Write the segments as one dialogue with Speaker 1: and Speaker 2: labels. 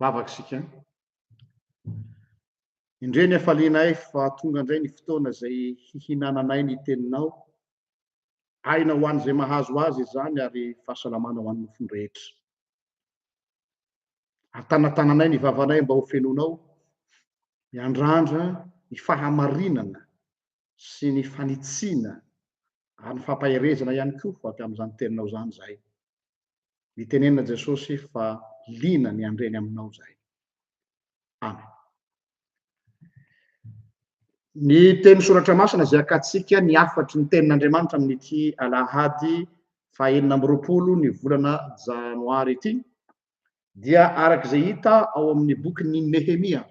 Speaker 1: vavaka isika an! Indreo ny hafalianay fa tonga indray ny fotoana izay hihinananay ny Teninao. Aina ho an'izay mahazo azy izany ary fahasalamana ho an'ny nofony rehetra. Atanatananay ny vavanay mba ho fenonao, miandrandra ny fahamarinana sy ny fanitsiana ary ny fampaherezana ihany koa avy amin'izany Teninao izany izahay. Nitenenina Jesosy fa liana ny handre ny aminao izahay. Amen. Ny teny soratra masina izay akatsika ny hafatry ny tenin'Andriamanitra amin'ity alahady fahenina amby roapolo ny volana janoary ity dia araka izay hita ao amin'ny bokin'ny Nehemia.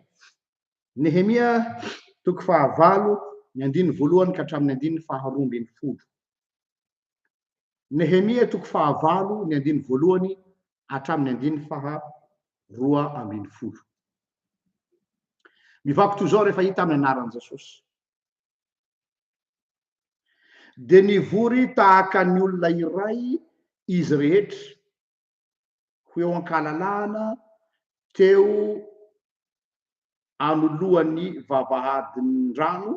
Speaker 1: Nehemia toko fahavalo ny andininy voalohany ka hatramin'ny andininy faharoa ambin'ny folo. Nehemia toko fahavalo ny andiny voalohany hatramin'ny andiny faha roa ambin'ny folo. Mivako toy izao rehefa hita amin'ny anaran'i Jesosy. Dia nivory tahaka ny olona iray izy rehetra ho eo an-kalalahana teo anoloan'ny vavahadin-drano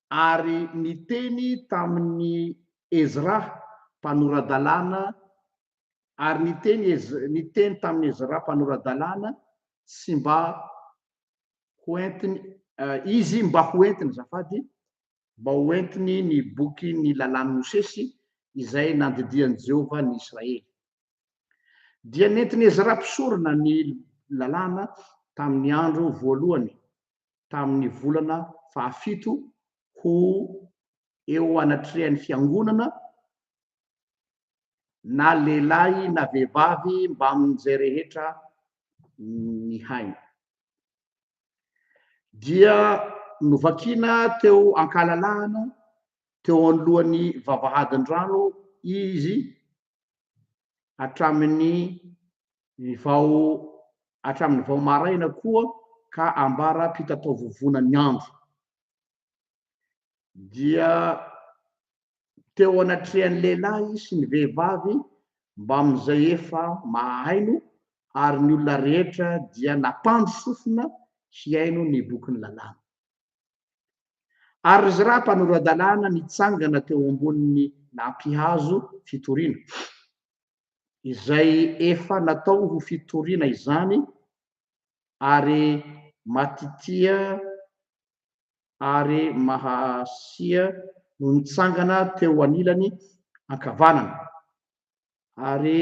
Speaker 1: ary niteny tamin'i Ezra, mpanora-dalàna, ary niteny Ez, niteny tamin'i Ezra, mpanora-dalàna, sy mba hoentiny, izy mba hoentiny, azafady, mba hoentiny ny boky ny Lalàn'i Mosesy, izay nandidian'i Jehovah ny Israely. Dia nentin'i Ezra mpisorona ny Lalàna tamin'ny andro voalohany, tamin'ny volana fahafito ho eo anatrehan'ny fiangonana na lehilahy na vehivavy mbamin'izay rehetra nihaino. Dia novakina teo an-kalalahana teo anoloan'ny vavahadin-drano izy hatramin'ny vao hatramin'ny vao maraina koa ka ambara-pitataovovona ny andro dia teo anatrehan'ny lehilahy sy ny vehivavy mbamin'izay efa mahaino ary ny olona rehetra dia nampandry sofina hihaino ny bokin'ny lalàna. Ary ry Zra mpanoro-dalàna nitsangana teo ambonin'ny nampihazo fitoriana, izay efa natao ho fitoriana izany, ary Matitia ary Mahasia no nitsangana teo anilany ankavanana, ary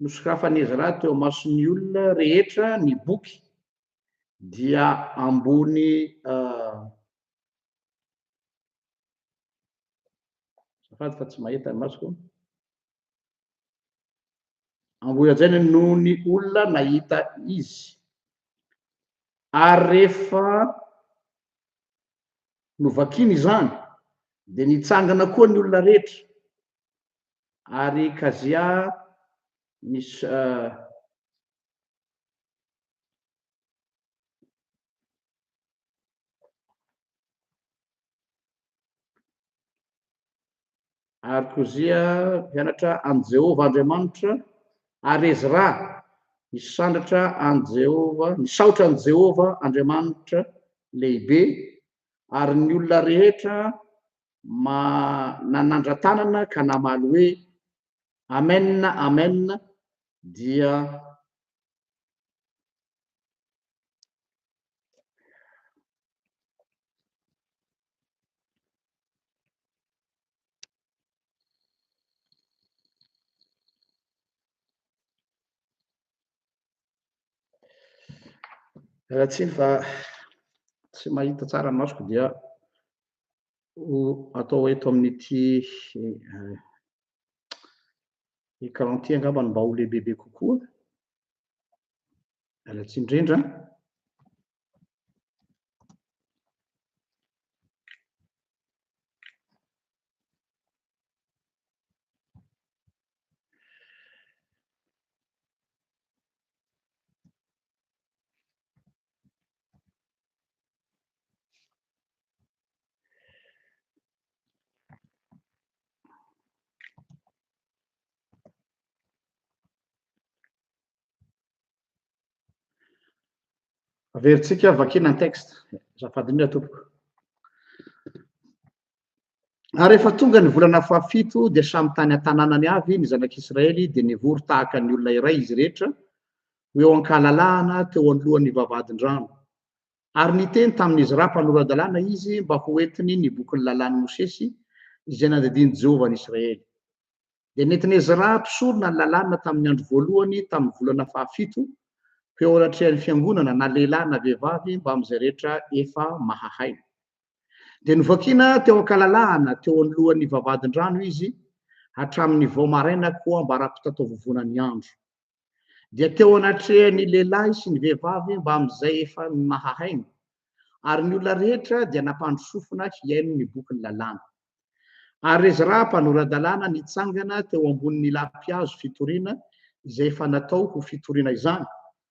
Speaker 1: Nosokafan'i Ezra teo imason'ny olona rehetra ny boky, dia ambony azafady fa tsy mahita ny masoko, ambony hajaina noho ny olona nahita izy, ary rehefa novakiny izany dia nitsangana koa ny olona rehetra, ary kazia misy ary kozia mianatra an'i Jehovah Andriamanitra, ary Ezra misandratra an'i Jehovah, misaotra an'i Jehovah Andriamanitra lehibe, ary ny olona rehetra Manandratanana ka namaly hoe, Amen, Amen, dia Miala tsiny fa tsy mahita tsara ny masoko dia ho atao eto amin'ity écran ity angamba no mba ho lehibebe kokoa. Miala tsiny indrindra. Averintsika, vakiana ny texte. Azafady indrindra tompoko. Ary rehefa tonga ny volana fahafito, dia samy tany an-tanànany avy ny zanak'Israely, dia nivory tahaka ny olona iray izy rehetra, ho eo an-kalalahana teo anoloan'ny vavahadin-drano. Ary niteny tamin'i Ezra mpanora-dalàna izy mba ho entiny ny bokin'ny lalàn'i Mosesy, izay nandidian'i Jehovah an'Israely. Dia nentin'i Ezra mpisorona ny lalàna tamin'ny andro voalohany tamin'ny volana fahafito, ho eo anatrehan'ny fiangonana, na lehilahy na vehivavy, mbamin'izay rehetra efa mahahay. Dia novakiana teo an-kalalahana teo anoloan'ny vavahadin-drano izy hatramin'ny vao maraina koa ambara-pitataovovona ny andro. Dia teo anatrehan'ny lehilahy sy ny vehivavy mbamin'izay efa nahahaino, ary ny olona rehetra dia nampandry sofina hihaino ny bokin'ny lalàna. Ary Ezra mpanora-dalàna nitsangana teo ambonin'ny lapihazo fitoriana izay efa natao ho fitoriana izany,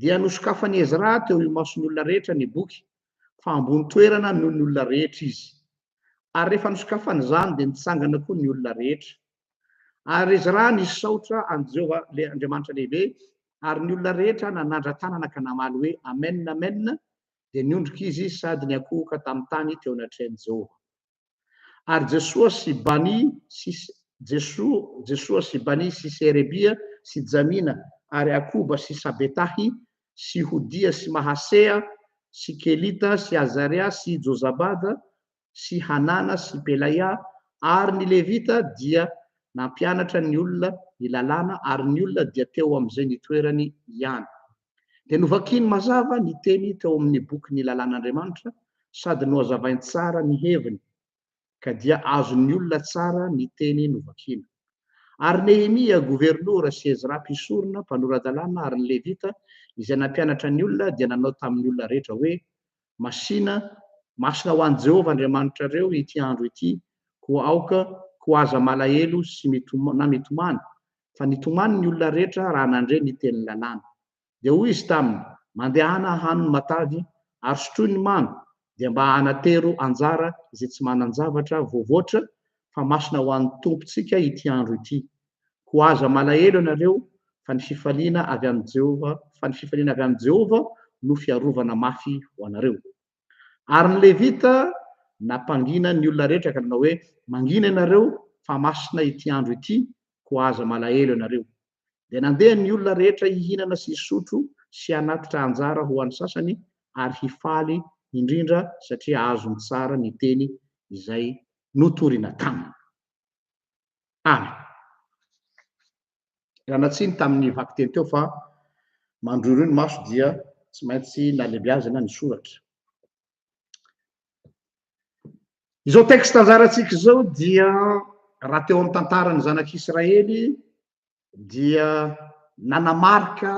Speaker 1: Dia nosokafan'i Ezra teo imason'olona rehetra ny boky, fa ambony toerana noho ny olona rehetra izy. Ary rehefa nosokafany izany, dia nitsangana koa ny olona rehetra. Ary Ezra nisaotra an'i Jehovah, ilay Andriamanitra lehibe, ary ny olona rehetra nanandra-tanana ka namaly hoe, Amena, amena, dia niondrika izy sady niankohoka tamin'ny tany teo anatrehan'i Jehovah. Ary Jesoa sy Bani sy Jesoa, Jesoa sy Bani sy Serebia sy Jamina ary Akoba sy Sabetahy sy Hodia sy Mahasea sy Kelita sy Azaria sy Jozabada sy Hanana sy Pelaia, ary ny Levita dia nampianatra ny olona ny lalàna, ary ny olona dia teo amin'izay nitoerany ihany. dia novakiny mazava ny teny teo amin'ny boky Ny Lalàn'Andriamanitra sady nohazavainy tsara ny heviny, ka dia azon'ny olona tsara ny teny novakina. Ary Nehemia, governora, sy Ezra, mpisorona, mpanora-dalàna, ary ny Levita, izay nampianatra ny olona, dia nanao tamin'ny olona rehetra hoe, Masina, masina ho an'i Jehovah Andriamanitrareo ity andro ity, koa aoka, koa aza malahelo sy na mitomany, fa nitomany ny olona rehetra raha nandre ny tenin'ny lalàna. Dia hoy izy taminy, Mandehana hano ny matavy, ary sotroy ny mamy, dia mba hanatero anjara izay tsy manan-javatra voavoatra, fa masina ho an'ny Tompontsika ity andro ity. Koa aza malahelo ianareo, fa ny fifaliana avy amin'i Jehovah, fa ny fifaliana avy amin'i Jehovah no fiarovana mafy ho anareo. Ary ny Levita nampangina ny olona rehetra ka nanao hoe, Mangina ianareo, fa masina ity andro ity, koa aza malahelo ianareo. Dia nandeha ny olona rehetra hihinana sy hisotro sy hanatitra anjara ho an'ny sasany ary hifaly indrindra satria azony tsara ny teny izay notorina taminy. Amen. Ranatsiny tamin'ny vakiteny teo fa mandroiroy ny maso dia tsy maintsy nalebiazina ny soratra. Izao texte anjarantsika izao dia raha teo amin'ny tantaran'ny zanak'Israely dia nanamarika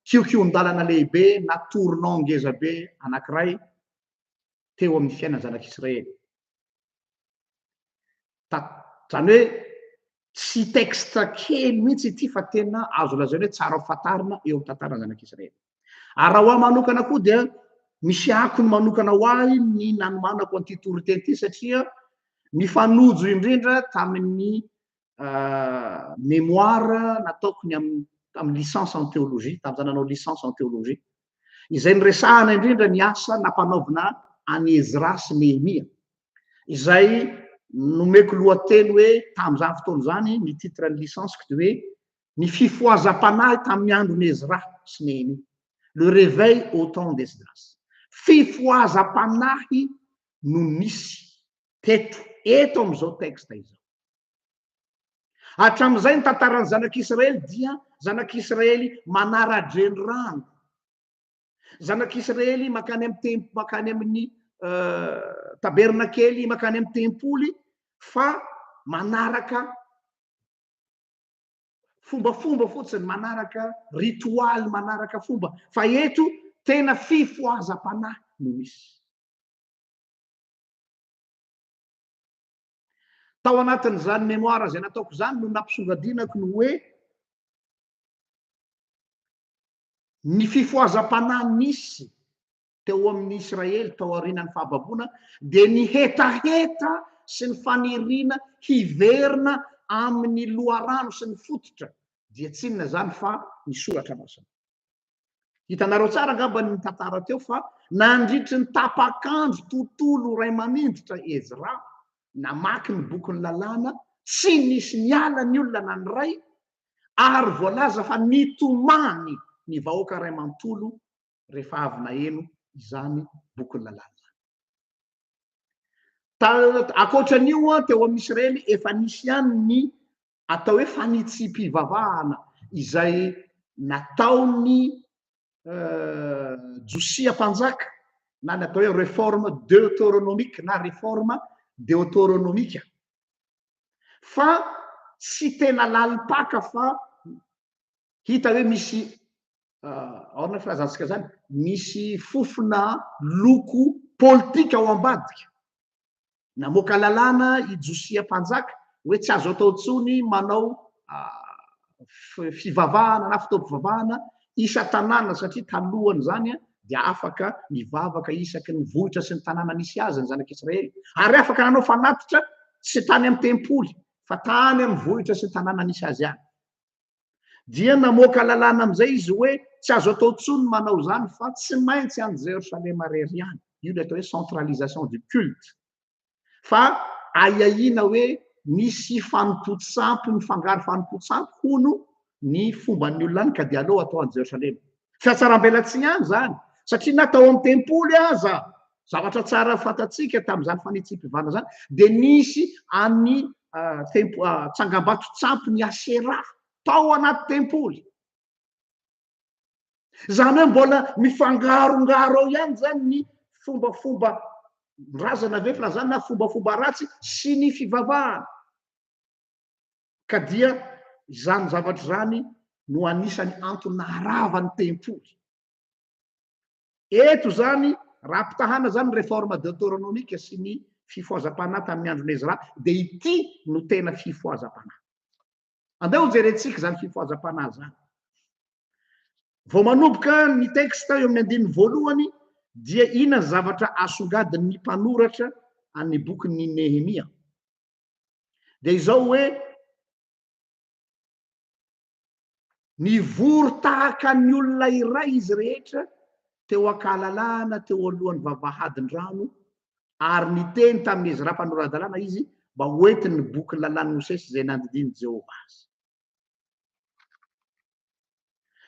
Speaker 1: kiokion-dalana lehibe na tournant ngezabe anankiray teo amin'ny fiainan'ny zanak'Israely. Izany hoe tsy texte kely mihitsy ity fa tena azo lazaina hoe tsara fantarina eo amin'ny tantaran'ny Zanak'Israely. Ary raha ho ahy manokana koa dia misy akony manokana ho ahy ny nanomanako an'ity toriteny ity satria nifanojo indrindra tamin'ny mémoire nataoko ny amin'ny tamin'ny licence en théologie tamin'izaho nanao licence en théologie izay niresahana indrindra ny asa nampanaovina an'i Ezra sy Nehemia izay nomeko lohateny hoe tamin'izany fotoana izany ny titre ny licence-ko dia hoe ny fifohazam-panahy tamin'ny andron'i Ezra sy Nehemia le réveil au temps d'Esdras fifohazam-panahy no nisy teto eto amin'izao texte izao. Hatramin'izay ny tantaran'ny zanak'Israely dia zanak'Israely manara-drenirano, zanak'Israely makany amin'ny tem makany amin'ny euh, tabernakely, makany amin'ny tempoly fa manaraka fombafomba fotsiny, manaraka ritualy, manaraka fomba fa eto tena fifohazam-panahy no misy. Tao anatin'izany memoire izay nataoko izany no nampisongadinako ny hoe ny fifohazam-panahy nisy teo amin'ny Israely tao aorianan'ny fahababoana dia ny hetaheta sy ny faniriana hiverina amin'ny loharano sy ny fototra dia tsy inona izany fa ny soratra masina. Hitanareo tsara angamba ny tantara teo fa nandritry ny tapak'andro tontolo iray mamindrotra Ezra namaky ny bokin'ny lalàna, tsy nisy niala ny olona na ny iray ary voalaza fa nitomany ny vahoaka iray manontolo rehefa avy naheno izany bokin'ny lalàna izany. Ankoatra an'io, teo amin'ny Israely efa nisy ihany ny atao hoe fanitsipivavahana izay nataon'ny Josia mpanjaka na ny atao hoe reforme deuteronomique na reforme deuteronomique fa tsy tena lalim-paka fa hita hoe misy aona ny filazantsika zany misy fofona loko politika ao ambadika Namoaka lalàna i Josia mpanjaka hoe tsy azo atao intsony ny manao fivavahana na fotoam-pivavahana isan-tanàna, satria talohan'izany dia afaka nivavaka isaky ny vohitra sy ny tanàna nisy azy ny zanak'Israely, ary afaka nanao fanatitra tsy tany amin'ny tempoly fa tany amin'ny vohitra sy ny tanàna nisy azy ihany. Dia namoaka lalàna amin'izay izy hoe tsy azo atao intsony ny manao izany fa tsy maintsy any Jerosalema irery ihany. Io ilay atao hoe centralisation du culte. Fa ahiahiana hoe misy fanompoan-tsampy mifangaro fanompoan-tsampy hono ny fomban'ny olona any ka dia aleo atao any Jerosalema. Fiatsarambelatsihy ihany izany satria na tao amin'ny tempoly aza Zavatra tsara fantatsika tamin'izany fanitsiam-pivana izany dia nisy an'ny ah, tempo ah, tsangambato tsampy ny Asera tao anaty tempoly. Izany hoe mbola mifangarongaro ao ihany izany ny fombafomba razana ve filazana na fombafomba ratsy sy ny fivavahana. Ka dia izany zavatra izany no anisany antony naharavany tempoly. Eto izany, raha ampitahana izany ny Réforme Deutéronomique sy ny fifohazam-panahy tamin'ny andron'i Ezra, dia ity no tena fifohazam-panahy. Andeha hojerentsika izany fifohazam-panahy izany. Vao manomboka ny texte eo amin'ny andininy voalohany, dia inona ny zavatra asongadin'ny mpanoratra an'ny bokin'i Nehemia? Dia izao hoe, Nivory tahaka ny olona iray izy rehetra teo an-kahalalahana teo alohan'ny vavahadin-drano, ary niteny tamin'i Ezra mpanora-dalàna izy mba hoentiny ny bokin'ny Lalàn'i Mosesy izay nandidian'i Jehovah azy.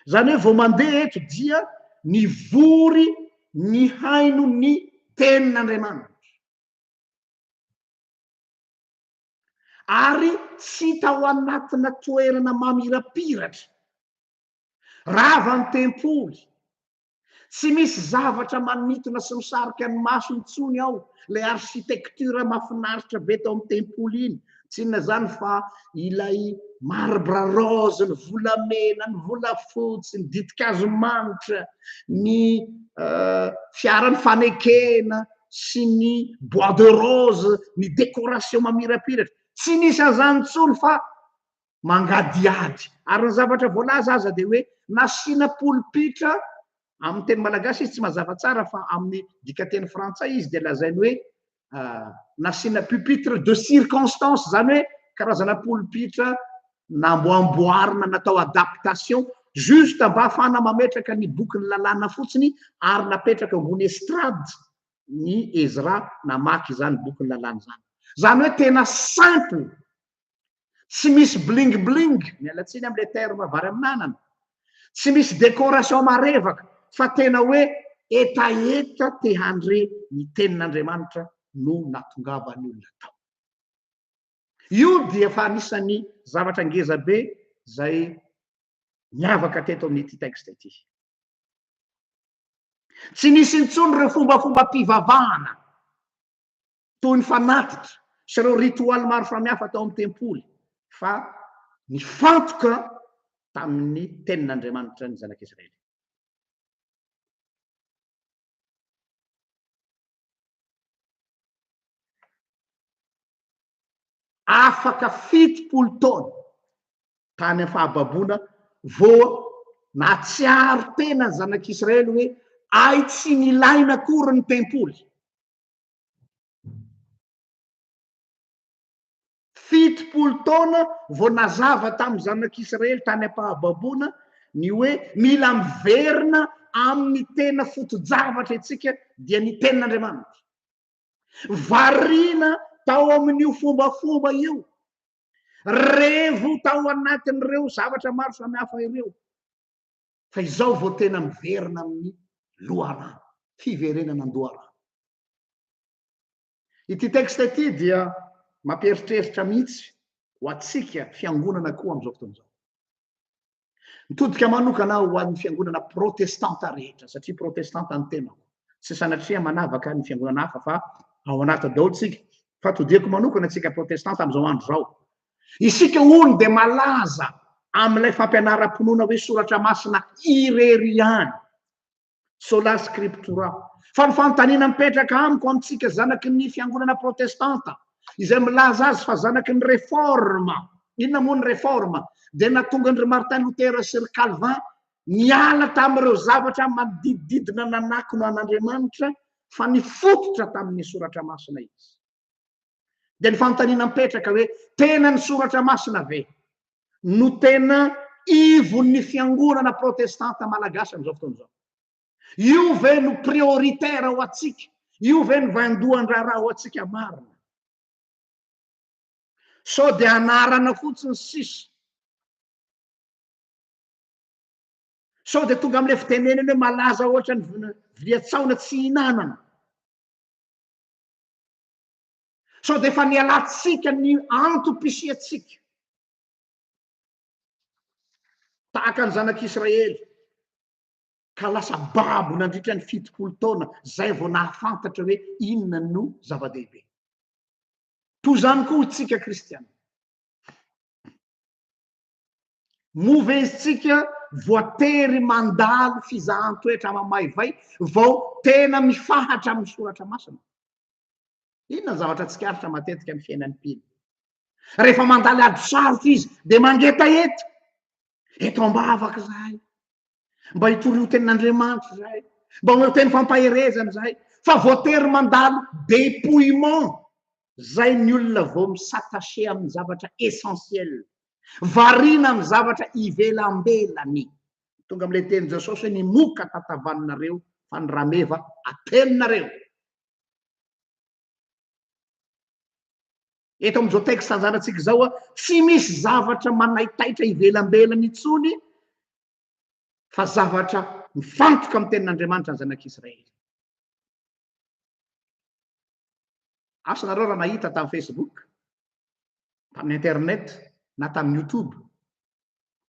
Speaker 1: Izany hoe vao mandeha eto dia nivory nihaino ny Tenin'Andriamanitra. ary tsy hita ao anatina toerana mamirapiratra. Rava ny tempoly. Tsy misy zavatra manintona sy misarika ny maso intsony ao, ilay architecture mahafinaritra be tao amin'ny tempoly iny, tsy inona izany fa ilay marbre rose, ny volamena, ny volafotsy, ny ditin-kazo manitra, ny fiaran'ny fanekena, sy ny bois de rose, ny décoration mamirapiratra. Tsy nisy an'izany intsony fa mangadiady. Ary ny zavatra voalaza aza dia hoe nasiana polipitra, amin'ny teny malagasy izy tsy mazava tsara fa amin'ny dikanteny frantsay izy dia lazainy hoe nasiana pupitre de circonstance, izany hoe karazana polipitra namboamboarina natao adaptation juste mba afahana mametraka ny bokin'ny lalàna fotsiny ary napetraka ambony estrade ny Ezra namaky izany bokin'ny lalàna izany. Izany hoe tena simple, tsy misy bling bling, miala tsiny amin'ilay terme vary amin'anana, tsy misy décoration marevaka fa tena hoe hetaheta te handre ny tenin'Andriamanitra no nahatongavan'ny olona tao. Io dia efa anisan'ny zavatra ngeza be izay niavaka teto amin'ity texte ity. Tsy nisy intsony ireo fombafombam-pivavahana toy ny fanatitra sy ireo ritoaly maro samihafa tao amin'ny tempoly fa nifantoka tamin'ny tenin'Andriamanitra ny zanak'Israely. afaka fitopolo taona tany am fahababoana vô natsiaro tena ny zanak' Israely hoe ay tsy nilaina akory ny tempoly. Fitopolo taona vao nazava tamin'ny zanak'Israely tany am-pahababoana ny hoe mila miverina amin'ny tena foto-javatra isika, dia ny Tenin'Andriamanitra. Variana tao amin'io fombafomba io, revo tao anatin'ireo zavatra maro samihafa ireo, fa izao vao tena miverina amin'ny loharano, fiverenana an-doharano. Ity texte ity dia mampieritreritra mihitsy ho antsika fiangonana koa amin'izao fotoana izao. Mitodika manokana aho ho an'ny fiangonana protestanta rehetra, satria protestanta ny tenako. Tsy sanatria manavaka ny fiangonana hafa fa ao anaty daholo tsika. Fa todihako manokana tsika protestanta amin'izao andro izao. Isika hono dia malaza amin'ilay fampianaram-pinoana hoe soratra masina irery ihany. Sola Scriptura. Fa ny fanontaniana mipetraka amiko amintsika zanaky ny fiangonana protestanta izay milaza azy fa zanaky ny reforma, inona moa ny reforma? Dia nahatonga an-dry Martin Luther sy ry Calvin niala tamin'ireo zavatra manodidididina nanakona an'Andriamanitra fa nifototra tamin'ny soratra masina izy. Dia ny fanontaniana mipetraka hoe tena ny soratra masina ve no tena ivon'ny fiangonana protestanta malagasy amin'izao fotoana izao? Io ve no prioritaire ho antsika? Io ve no vandohan-draharaha ho antsika marina? Sao dia anarana fotsiny sisa? Sao dia tonga amin'ilay fitenenana hoe malaza ohatra ny vilia tsaona tsy hinanana? Sao dia efa nialantsika ny antom-pisiantsika tahaka ny zanak'Israely ka lasa babo nandritra ny fitopolo taona izay vao nahafantatra hoe inona no zava-dehibe. Toy izany koa isika kristiana. Moa ve isika voatery mandalo fizahan-toetra mamaivay vao tena mifahatra amin'ny soratra masina? Inona ny zavatra tsikaritra matetika amin'ny fiainan'i Pily? Rehefa mandalo ady sarotra izy dia mangetaheta, eto am-bavaka izahay, mba hitorio tenin'Andriamanitra izahay, mba omeo teny fampaherezana izahay, fa voatery mandalo dépouillement Zay ny olona vao mi s'attacher amin'ny zavatra essentiel. Variana amin'ny zavatra ivelambelany. Tonga amin'ilay tenin'i Jesosy hoe ny moka tatavanareo fa ny rameva atelinareo. Eto amin'izao texte anjarantsika izao, tsy misy zavatra manaitaitra ivelambelany intsony fa zavatra mifantoka amin'ny tenin'Andriamanitra ny zanak'Israely. Asa nareo raha nahita tamin'ny Facebook, tamin'ny internet, na tamin'ny YouTube,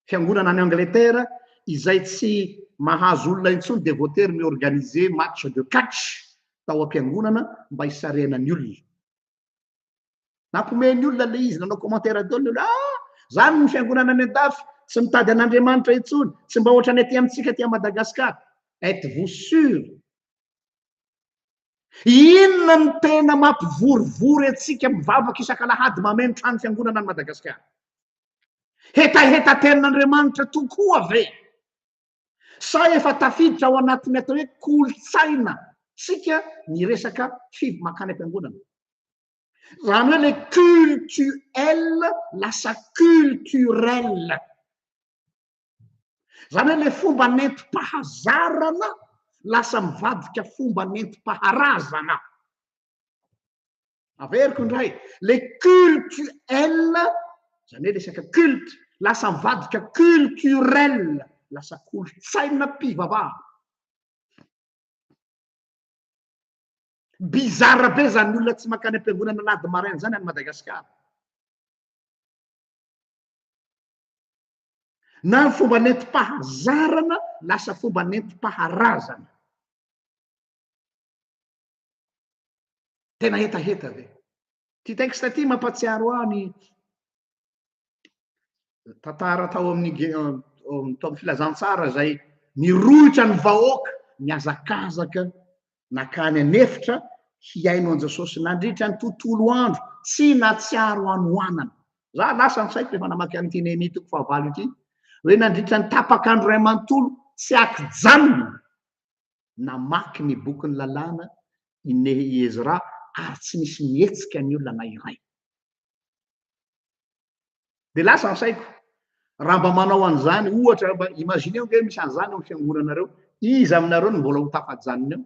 Speaker 1: fiangonana any Angleterre izay tsy mahazo olona intsony dia voatery ny organiser match de catch tao am-piangonana mba hisarihana ny olona. Nampihomehy ny olona ilay izy, nanao commentaire daholo ny olona, ah! Izany ny fiangonana any an-dafy, tsy mitady an'Andriamanitra intsony, tsy mba hoatran'ny aty amintsika aty à Madagascar. Êtes-vous sûr? Inona no tena mampivorivory antsika mivavaka isak'alahady mameno trano fiangonana any Madagascar? Hetahetan-tenin'Andriamanitra tokoa ve? Sa efa tafiditra ao anatin'ny atao hoe kolontsaina tsika ny resaka fiv mankany am-piangonana? Raha ny hoe le cultuel lasa culturel. Zany hoe le fomba nentim-pahazarana lasa mivadika fomba nentim-paharazana. Averiko indray, le cultuel, zany hoe resaka culte, lasa mivadika culturel, lasa kolontsainam-pivavahana. Bizarre be zany olona tsy mankany am-piangonana na ady maraina zany any Madagasikara. Na ny fomba nentim-pahazarana lasa fomba nentim-paharazana. Tena hetaheta ve? Ity texte ity mampatsiaro ahy ny tantara tao amin'ny tao amin'ny filazantsara izay nirohitra ny vahoaka nihazakazaka nakany an'efitra hihaino an'i Jesosy nandritra ny tontolo andro tsy natsiaro hanohanana. Za lasa ny saiko rehefa namaky an'ity Nehemia toko fahavalo ity hoe nandritra ny tapak'andro iray manontolo tsy akijanona namaky ny Bokin'ny Lalàna i Nehi-Ezra ary tsy nisy nihetsika ny olona na iray. Dia lasa ny saiko, raha mba manao an'izany, ohatra, mba imaginez ange misy an'izany ao amin'ny fiangonanareo, iza aminareo no mbola ho tafajanona eo?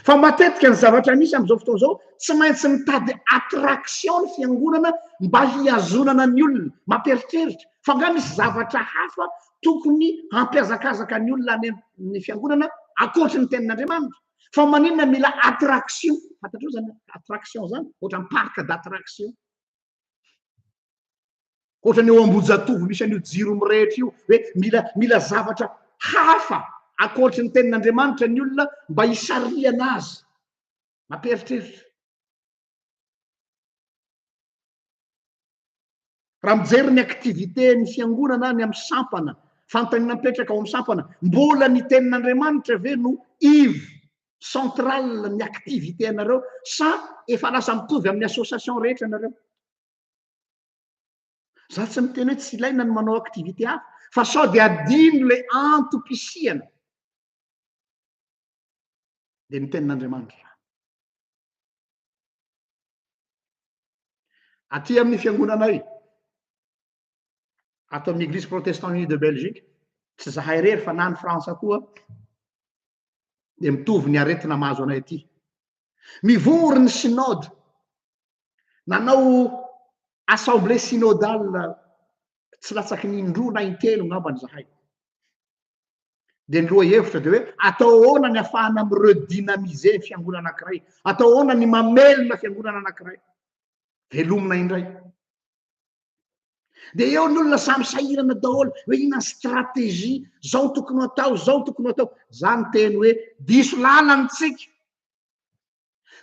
Speaker 1: Fa matetika ny zavatra misy amin'izao fotoana izao, tsy maintsy mitady attraction ny fiangonana mba hihazonana ny olona, mampieritreritra, fa angaha misy zavatra hafa tokony hampihazakazaka ny olona any amin'ny fiangonana ankoatry ny tenin'Andriamanitra. Fa maninona mila attraction? Fantatrao zany attraction zany? Ohatran'ny parc d'attraction. Ohatran'ny eo Ambohijatovo misy an'io jiro mirehitra io hoe mila mila zavatra hafa ankoatry ny tenin'Andriamanitra ny olona mba hisarihana azy. Mampieritreritra. Raha mijery ny activité ny fiangonana any amin'ny sampana, fantany napetraka ao amin'ny sampana, mbola ny tenin'Andriamanitra ve no iv central ny activité anareo sa efa lasa mitovy amin'ny association rehetra nareo? Za tsy miteny hoe tsy ilaina ny manao activité hafa fa sao dia adino le antom-pisiana dia ny tenin'Andriamanitra izany. Aty amin'ny fiangonanay, ato amin'ny Église Protestant Unie de Belgique, tsy zahay irery fa na ny Frantsa koa dia mitovy ny aretina mahazo anay aty. Mivory ny synode, nanao assemblée synodale tsy latsaky ny indroa na intelo ngambany zahay. Dia ny lohahevitra dia hoe atao ahoana ny afahana mi redynamiser ny fiangonana anankiray? Atao ahoana ny mamelona fiangonana anankiray? Velomina indray. Dia eo ny olona samy sahirana daholo hoe inona ny stratégie, zao tokony atao, zao tokony atao. Za ny teny hoe diso lalana tsika.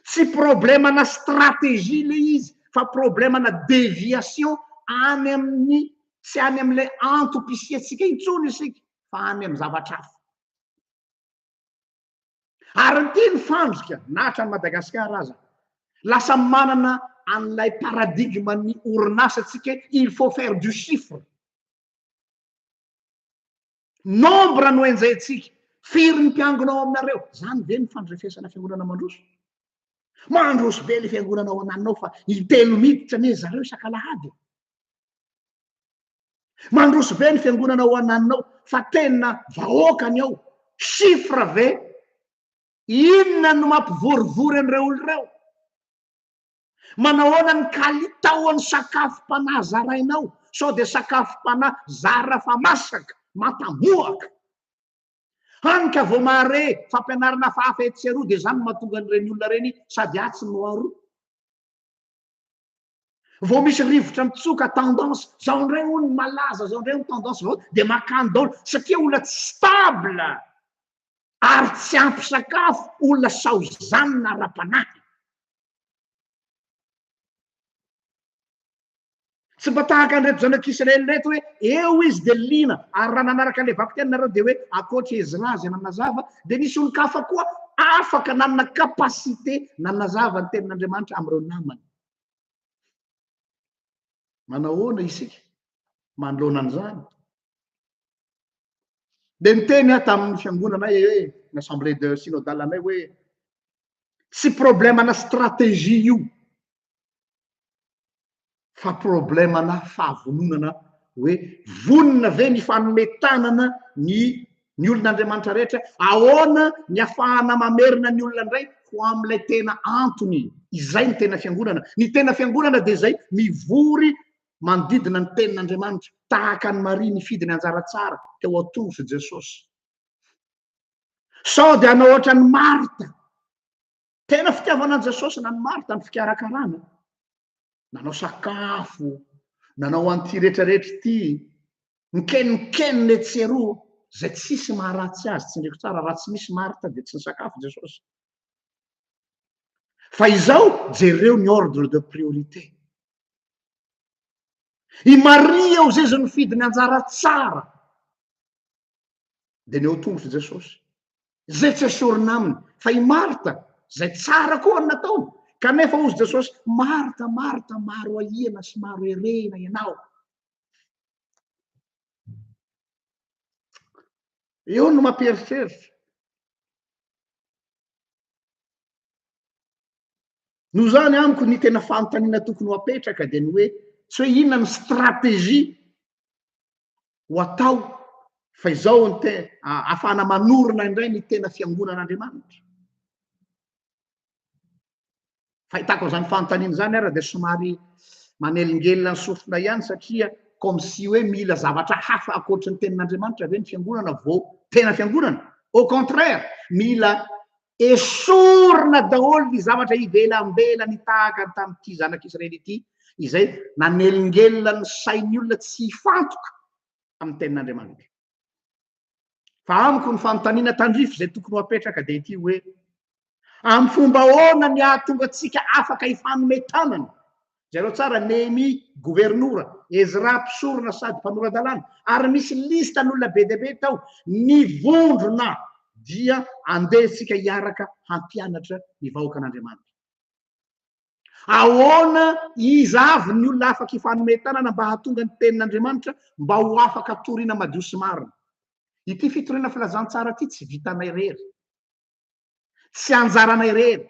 Speaker 1: Tsy problème na stratégie le izy fa problème na déviation any amin'ny tsy any amin'ilay antom-pisiantsika intsony isika fa any amin'ny zavatra hafa. Ary ny teny fandrika na hatrany Madagasikara aza lasa manana an'ilay paradigme ny orinasa tsika il faut faire du chiffre. Nombre no enjehintsika. Firy ny mpiangona ao aminareo? Izany ve no fandrefesana fiangonana mandroso? Mandroso be ny fiangonana ao ananinao fa intelo miditra anie zareo isak'alahady e. Mandroso be ny fiangonana ao ananinao fa tena vahoaka ny ao. Chiffre ve? Inona no mampivorivory an'ireo olona ireo? Manahoana ny kalitaon'ny sakafom-panahy zarainao? Sao dia sakafom-panahy zara fa masaka, matamoaka? Hany ka vao mahare fampianarana hafahafa etsy sy eroa dia izany no mahatonga an'ireny olona ireny sady atsy no aroa. Vao misy rivotra mitsoka, tendance, izao indray hono ny malaza, izao indray ny tendance vao dia makany daholo satria olona tsy stable ary tsy ampy sakafo, olona saozanina ara-panahy. Tsy mba tahaka an'ireto zanak'Israely ireto hoe eo izy dia liana, ary raha nanaraka an'ilay vakiteny nareo dia hoe ankoatra Ezra izay nanazava dia nisy olon-kafa koa afaka nanana capacité nanazava ny tenin'Andriamanitra amin'ireo namany. Manahoana isika manoloana an'izany? Dia niteny aho tamin'ny fiangonanay hoe ny assemblée de synodale anay hoe Tsy problème ana stratégie io fa problème ana fahavononana hoe vonona ve ny fanome tanana ny ny olon'Andriamanitra rehetra? Ahoana ny afahana mamerina ny olona indray ho amin'ilay tena antony? Izay ny tena fiangonana. Ny tena fiangonana dia izay mivory manodidina ny tenin'Andriamanitra tahaka an'i Maria nifidy ny anjara tsara teo ao-tongotr'i Jesosy. Sao dia hanao ohatran'i Marta. Tena fitiavanan'i Jesosy na ny Marta ny fikarakarana. Nanao sakafo, nanao an'ity rehetrarehetra ity, mikenikenina etsy eroa, izay tsisy maharatsy azy, tsindriko tsara, raha tsy misy Marta dia tsy nisakafo Jesosy. Fa izao, jereo ny ordre de priorité. I Maria eo zay izy nifidy ny anjara tsara. dia ny ao tongotr'i Jesosy. Izay tsy esorina aminy, fa i Marta, izay tsara koa ny nataony. Kanefa hozy Jesosy, Marta, Marta, maro ahiana sy maro herehina ianao. Eo no mampieritreritra. Noho izany amiko ny tena fanontaniana tokony ho apetraka dia ny hoe tsy hoe inona ny stratégie ho atao fa izao ny te- a- ahafahana manorina indray ny tena fiangonan'Andriamanitra. Fahitako an'izany fanontaniana izany ary dia somary manelingelina ny sofina ihany satria comme si hoe mila zavatra hafa ankoatry ny tenin'Andriamanitra ve ny fiangonana vao tena fiangonana? Au contraire, mila Esorina daholo ny zavatra ivelambelany tahaka ny tamin'ity zanak'Israely ity, izay nanelingelina ny sain'ny olona tsy hifantoka amin'ny tenin'Andriamanitra. Fa amiko ny fanontaniana tandrify izay tokony ho apetraka dia ity hoe, amin'ny fomba ahoana ny hahatonga antsika afaka hifanome tanana Jereo tsara, Nehemia governora, Ezra mpisorona sady mpanora-dalàna, ary misy listan'olona be dia be tao. Ny vondrona dia andeha isika hiaraka hampianatra ny vahoakan'Andriamanitra. Ahoana, iza avy ny olona afaka hifanome tanana mba hahatonga ny Tenin'Andriamanitra mba ho afaka toriana madio sy marina? Ity fitoriana filazantsara ity tsy vitanay irery, tsy anjaranay irery.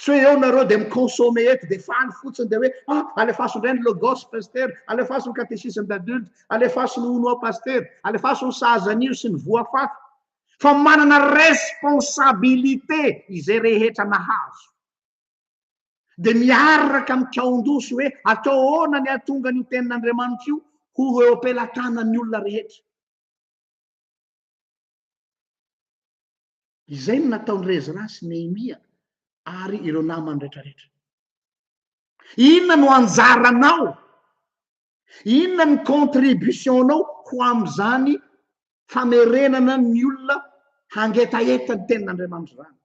Speaker 1: Tsy hoe eo nareo dia mi-consommer eto dia faly fotsiny dia hoe ah alefaso indray ny logos pasitera, alefaso ny catéchisme d'adulte, alefaso ny uno pasitera, alefaso ny sahaza anio sy ny voa faty. Fa manana responsabilité izay rehetra nahazo. Dia miaraka mikaon-doso hoe atao ahoana ny hahatonga an'io tenin'Andriamanitra io ho eo am-pelatanan'ny olona rehetra. Izay no nataon'i Ezra sy Nehemia ary ireo namany rehetrarehetra. Inona no anjaranao? Inona ny contribution-nao ho amin'izany famerenana ny olona hangetaheta ny tenin'Andriamanitra izany?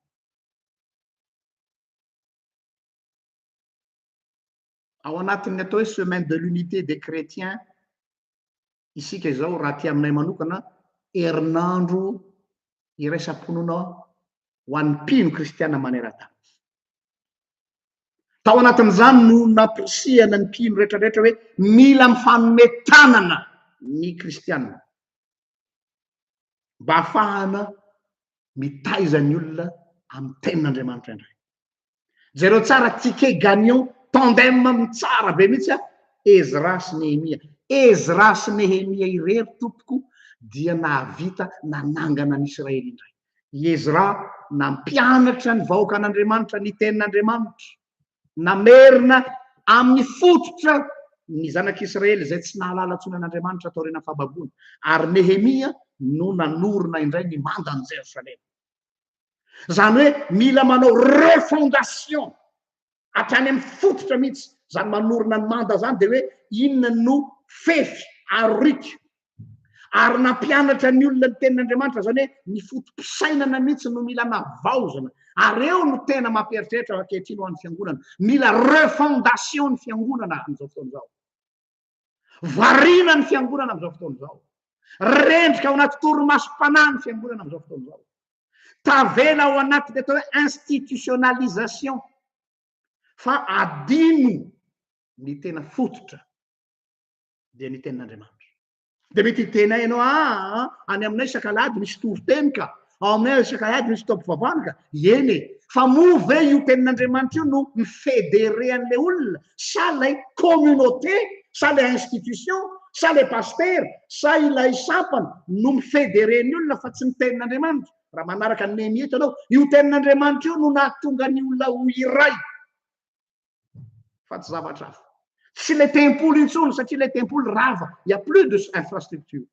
Speaker 1: Ao anatin'ny atao hoe semaine de l'unité des chrétiens isika izao raha aty aminay manokana herinandro iraisam-ponona ho an'ny mpino kristiana maneran-tany. Tao anatin'izany no nampirisihana ny mpino rehetrarehetra hoe mila mifanome tanana ny kristiana mba hahafahana mitaiza ny olona amin'ny tenin'Andriamanitra indray. Jereo tsara ticket gagnant tandem tsara be mihitsy a Ezra sy Nehemia. Ezra sy Nehemia irery tompoko dia nahavita nanangana an'i Israely indray. I Ezra nampianatra ny vahoakan'Andriamanitra ny tenin'Andriamanitra. Namerina amin'ny fototra ny zanak'Israely izay tsy nahalala intsony an'Andriamanitra taorian'ny fahababoana. Ary Nehemia no nanorina indray ny mandan'i Jerosalema. zany hoe mila manao refondation hatrany amin'ny fototra mihitsy zany manorina ny manda zany de hoe inona no fefy aroriky ary nampianatra ny olona ny tenin'andriamanitra zany hoe ny fotom-pisainana mihitsy no mila navaozina ary eo no tena mampieritreritra ankehitriny ho an'ny fiangonana mila refondation ny fiangonana amin'izao fotoana izao Variana ny fiangonana amin'izao fotoana izao. Rendrika ao anaty torimasom-panahy ny fiangonana amin'izao fotoana izao. Tavela ao anaty ny atao hoe institutionnalisation fa adino ny tena fototra dia ny tenin'Andriamanitra. Dia mety hiteny ahy ianao, aa, any aminay isaka alahady misy toriteny ka, ao aminay isaka alahady misy fotoam-pivavahana ka. Eny e! Fa moa ve io tenin'Andriamanitra io no mi-federer an'ilay olona, sa ilay communauté, sa ilay institution, sa ilay pasitera, sa ilay sampana no mi-federer ny olona fa tsy ny tenin'Andriamanitra? Raha manaraka an'i Nehemia eto ianao, io tenin'Andriamanitra io no nahatonga ny olona ho iray. fa tsy zavatra hafa. Tsy ilay tempoly intsony satria ilay tempoly rava, il y a plus de infrastructure.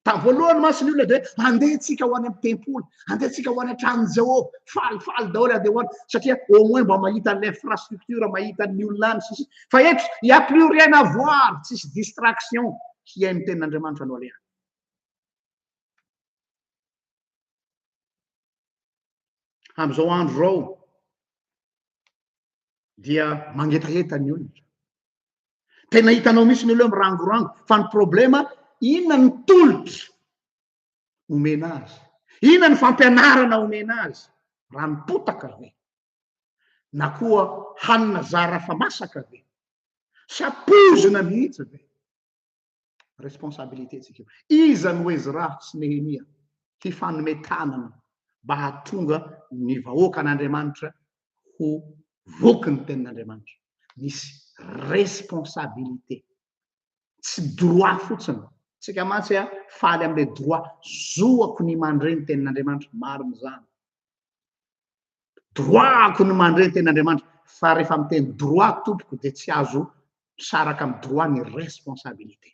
Speaker 1: Tamin'ny voalohany mantsy ny olona dia hoe handeha antsika ho any amin'ny tempoly, handeha antsika ho any an-tranon'i Jehovah, falifaly daholo handeha ho any satria au moins mba mahita an'ilay infrastructure, mahita ny olona any sisa. Fa eto, il y a plus rien à voir, tsisy distraction, hihaino ny tenin'Andriamanitra no alehany. Amin'izao andro izao dia mangetaheta ny olona. Tena hitanao misy ny olona mirangorango fa ny problema inona ny tolotra omena azy? Inona ny fampianarana omena azy? Raha mipotaka ve? Na koa hanina zara fa masaka ve? Sa poizina mihitsy ve? responsabilité tsika iza no ezra sy nehemia hifanome tanana mba hahatonga ny vahoakan'andriamanitra ho voky ny tenin'andriamanitra misy responsabilité tsy droit fotsiny tsika mantsy a faly amle droit zoako ny mandre ny tenin'andriamanitra marina zany Droit-ko ny mandre ny tenin'Andriamanitra, fa rehefa miteny droit tompoko dia tsy azo misaraka amin'ny droit ny responsabilité.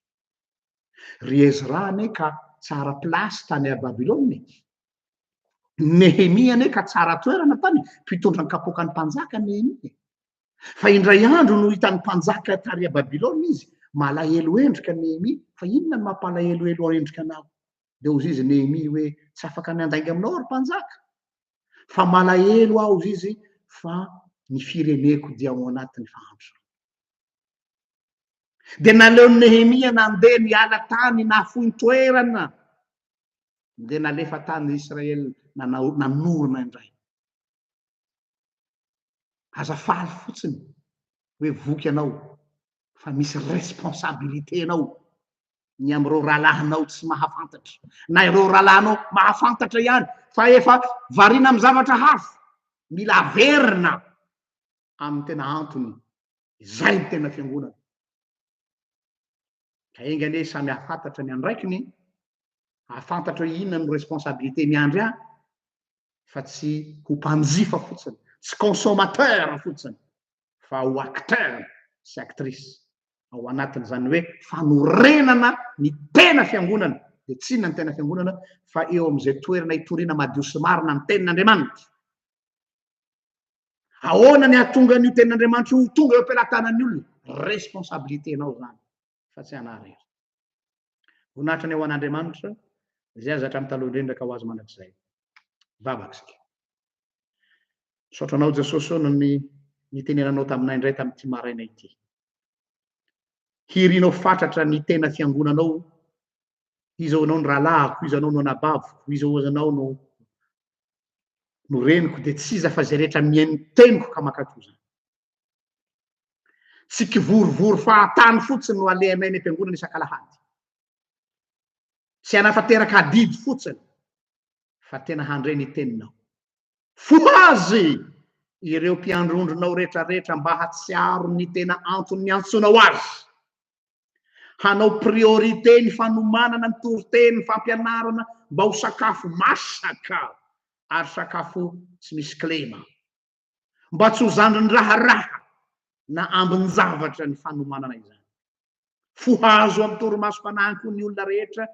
Speaker 1: Ry Ezra anie ka tsara place tany à Babylone e! Nehemia anie ka tsara toerana tany, mpitondra ny kapoakan'ny mpanjaka Nehemia e! Fa indray andro no hitan'ny mpanjaka tary à Babylone izy, malahelo endrika Nehemia, fa inona no mampalahelohelo endrika anao? dia hozy izy Nehemia hoe, Tsy afaka miandainga aminao aho, ry mpanjaka, fa malahelo aho, hozy izy, fa ny fireneko dia ao anatin'ny fahandrosana. Dia naleon'i Nehemia nandeha niala tany nahafoy toerana, dia nalefa tany Israel nanao nanorina indray. Aza faly fotsiny hoe voky ianao fa misy responsabilité anao ny amin'ireo rahalahinao tsy mahafantatra na ireo rahalahinao mahafantatra ihany fa efa variana amin'ny zavatra hafa mila averina amin'ny tena antony izay ny tena fiangonana ka enga anie samy hafantatra ny andraikiny hafantatra hoe inona ny responsabilité miandry ahy fa tsy ho mpanjifa fotsiny tsy consommateur fotsiny fa ho acteur sy actrice ao anatin' izany hoe fanorenana ny tena fiangonana dia tsy inona ny tena fiangonana fa eo amin' izay toerana itoriana madio sy marina ny tenin' Andriamanitra. Ahoana ny hahatonga an' io tenin' Andriamanitra io ho tonga eo am-pelatanan'ny olona? Responsabilité-nao izany. fa tsy anah rery. Voninahitra ny ho an'Andriamanitra, izay aza hatramin'ny taloha indrindra ka ho azy mandrakizay. Vavaka isika. Misaotra anao Jesosy o noho ny nitenenanao taminay indray tamin'ity maraina ity. Hirinao fatratra ny tena fiangonanao, iza ho anao ny rahalahiko, iza anao no anabaviko, iza ho anao no no reniko, dia tsy iza fa izay rehetra mihaino ny teniko ka makatozana. Tsy kivorivory fahatany fotsiny no alehanay any am-piangonana isak'alahady. Tsy hanatanteraka adidy fotsiny, fa tena handre ny teninao. Fohazy ireo mpiandrondronao rehetrarehetra mba hahatsiaro ny tena antony niantsoanao azy. Hanao priorité ny fanomanana ny toriteny, ny fampianarana mba ho sakafo masaka ary sakafo tsy misy kilema. mba tsy ho zandrin'ny raharaha na ambin-javatra ny fanomanana izany. Fo hahazo amin'ny torimasom-panahiny koa ny olona rehetra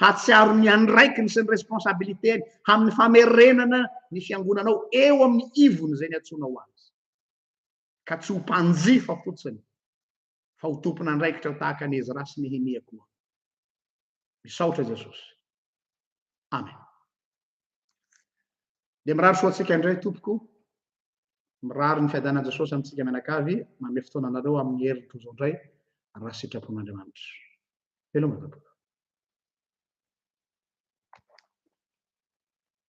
Speaker 1: hahatsiaro ny andraikiny sy ny responsabilité-ny amin'ny famerenana ny fiangonanao eo amin'ny ivony izay niantsoanao azy, ka tsy ho mpanjifa fotsiny fa ho tompon'andraikitra tahaka an'i Ezra sy Nehemia koa. Misaotra Jesosy. Amen. Dia mirary soa antsika indray tompoko. Mirary ny fiadanan'i Jesosy amintsika mianakavy, manome fotoana anareo amin'ny herin'ny tojo indray raha sitrapon'Andriamanitra. Veloma tompoko.